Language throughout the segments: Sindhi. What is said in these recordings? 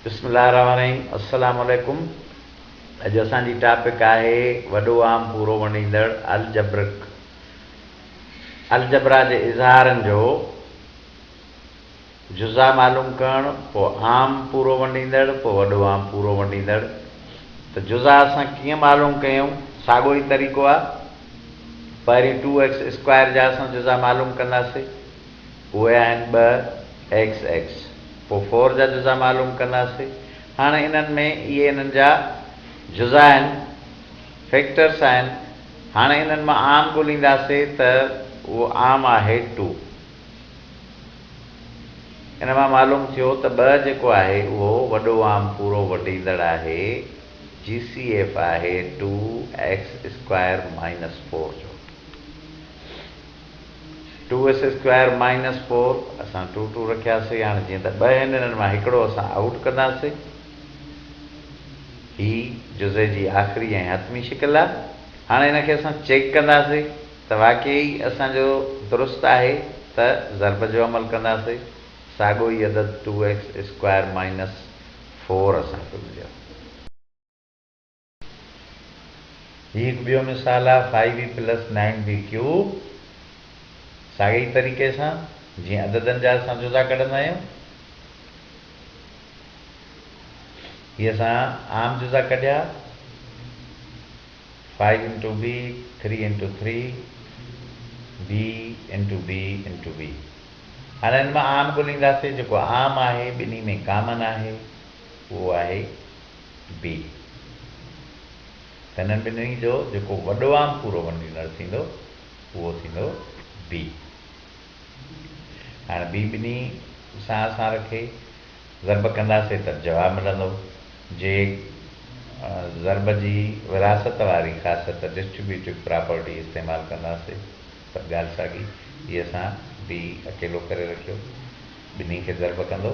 بسم الله الرحمٰن الرحيم السلام عليڪم اڄ اسان جي ٽاپڪ آهي وڏو عام پورو ونڊيندڙ الجبرڪ الجبرا جي اظهارن جو جزا معلوم ڪرڻ پو عام پورو ونڊيندڙ پو وڏو عام پورو ونڊيندڙ ته جزا اسان ڪيئن معلوم ڪيون ساڳو ئي طريقو آهي پهرين ٽو ايڪس اسڪوائر جا اسان جزا معلوم ڪنداسي اهي آهن ٻه ايڪس ايڪس پوء فور جا جزا معلوم ڪنداسين هاڻ انهن ۾ اهي انهن جا جزا آهن فيڪٽرس آهن هاڻ انهن مان عام ڳولينداسين ته اهو عام آهي ٽو ان مان معلوم ٿيو ته ٻه جيڪو آهي اهو وڏو عام پورو وڍيندڙ آهي جي سي ايف آهي two x square minus four جو. Two S square minus four اسان ٽو ٽو رکياسي هاڻي جيئن ته ٻه هن انهن مان هڪڙو اسان آئوٽ ڪنداسي هي جزئي جي آخري ۽ حتمي شڪل آ هاڻي هن کي اسان چيڪ ڪنداسي ته واقعي اسان جو درست آهي ته ضرب جو عمل ڪنداسي ساڳو ئي عدد two S square minus four اسان کي مليو. هي هڪ ٻيو مثال آهي five b plus nine b cube ساڳئي ئي طريقي سان جيئن عددن جا اسان جزا ڪڍندا آهيون هي اسان عام جزا ڪڍيا five into b three into three b into b into b هاڻي هن مان عام ڳولينداسي جيڪو عام آهي ٻنهي ۾ ڪامن آهي اهو آهي بي تنھن ٻنھي جو جيڪو وڏو عام پورو ونڊينر ٿيندو اھو ٿيندو بي ھاڻي بي ٻنھي سان اسان رکي ضرب ڪنداسي ته جواب ملندو جي ضرب جي وراثت واري خاصيت ڊسٽريبيوٽيڊ پراپرٽي استعمال ڪنداسي ته ڳالھ ساڳي جي اسان بي اڪيلو ڪري رکيو ٻنھي کي ضرب ڪندو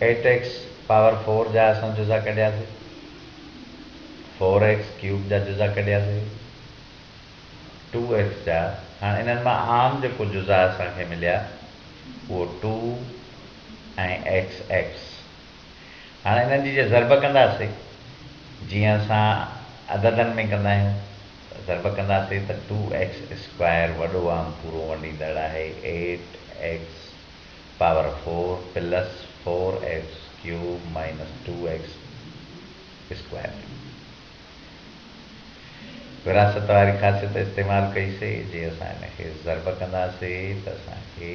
ايٽيڪس پاور فور جا اسان جزا ڪڍياسين، فور ايڪس ڪيوب جا جزا ڪڍياسين، ٽو ايڪس جا، هاڻ انهن مان عام جيڪو جزا اسان کي مليا اهو ٽو ۽ ايڪس ايڪس. هاڻي انهن جي جي ضرب ڪنداسي جيئن اسان عددن ۾ ڪندا آهيون ته ضرب ڪنداسي ته ٽو ايڪس اسڪوائر وڏو عام پورو ونڊيندڙ آهي eight x power four plus four x cube minus two x square ٿيندو. وراثت واري خاصيت استعمال ڪئي سي جي اسان ان کي ضرب ڪنداسي ته اسان کي.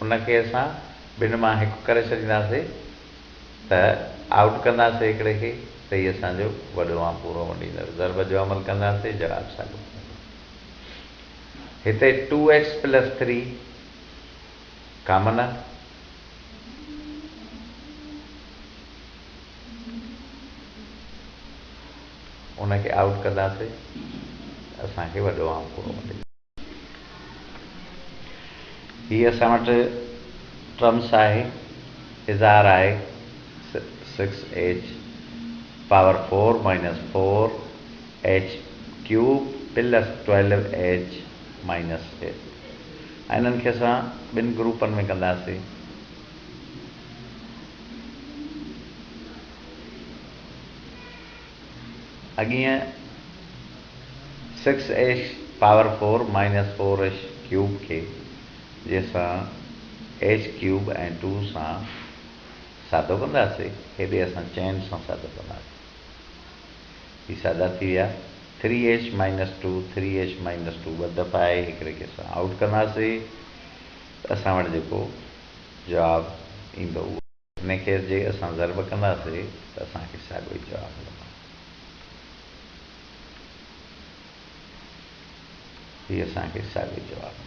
ان کي اسان ٻن مان هڪ ڪري ڇڏينداسي ته آئوٽ ڪنداسي هڪڙي کي ته هي اسان جو وڏو عام پورو مڏيندڙ ضرب جو عمل ڪنداسي جواب ساڳيو ملندو. هتي two x plus three common آهي. ان کي آئوٽ ڪنداسي ته اسان کي وڏو عام پورو مڏيندڙ. هي اسان وٽ ٽرمس آهي اظهار آهي six h power four minus four h cube plus twelve h minus eight ۽ انهن کي اسان ٻن گروپن ۾ ڪنداسين اڳينء six h power four minus four h cube کي جنهن سان ايش ڪيوب ۽ ٽو سان سادو ڪنداسي هيڏي اسان چئن سان سادو ڪنداسي هي سادا ٿي ويا three h minus two three h minus two ٻه دفعا آهي هڪڙي کي اسان آئوٽ ڪنداسي ته اسان وٽ جيڪو جواب ايندو اهو انهيء کي جي اسان ضرب ڪنداسي ته اسان کي ساڳيو ئي جواب ملندو. هي اسان کي ساڳيو جواب ملندو.